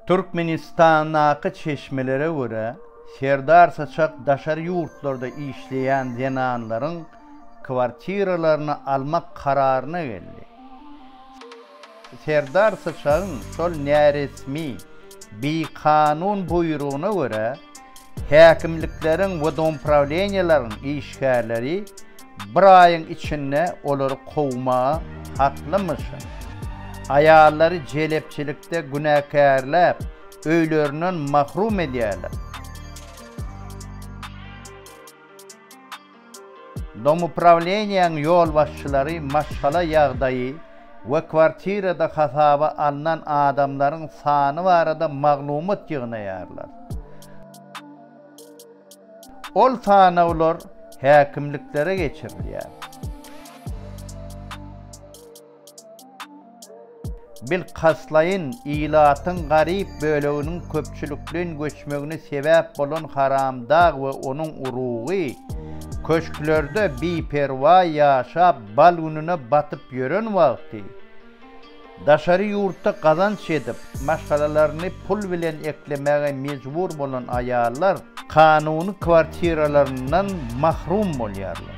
Türkmenistandaky çeşmelere görä, Serdar Syçak daşary ýurtlarda işleýän zenanlaryň kwartiralaryny almak kararyna geldi. Serdar Syçagyň şol näresmi, bikanun buýrugyna görä, Häkimlikleriň we domuprawilenýalaryň işgärleri bir aýyň içinde olary kowmaga haklymyşyn. Aýallary jelepçilikde günäkärläp, öýlerinden mahrum edýärler. Domuprawleniýäň ýolbaşçylary maşgala ýagdaýy we kwartirada hasaba alnan adamlaryň sany barada maglumat ýygnaýarlar. Ol sanawlar häkimliklere geçirilýär. Bilkastlaýyn ilatyň garyp böleginiň köpçülikleýin göçmegine sebäp bolan haramdag we onuň urugy, köşklerde biperwaý ýaşap, bal gününe batyp ýören wagty, daşary ýurtda gazanç edip, maşgalalaryny pul bilen eklemäge mejbur bolan aýallar kanuny kwartiralaryndan mahrum bolýarlar.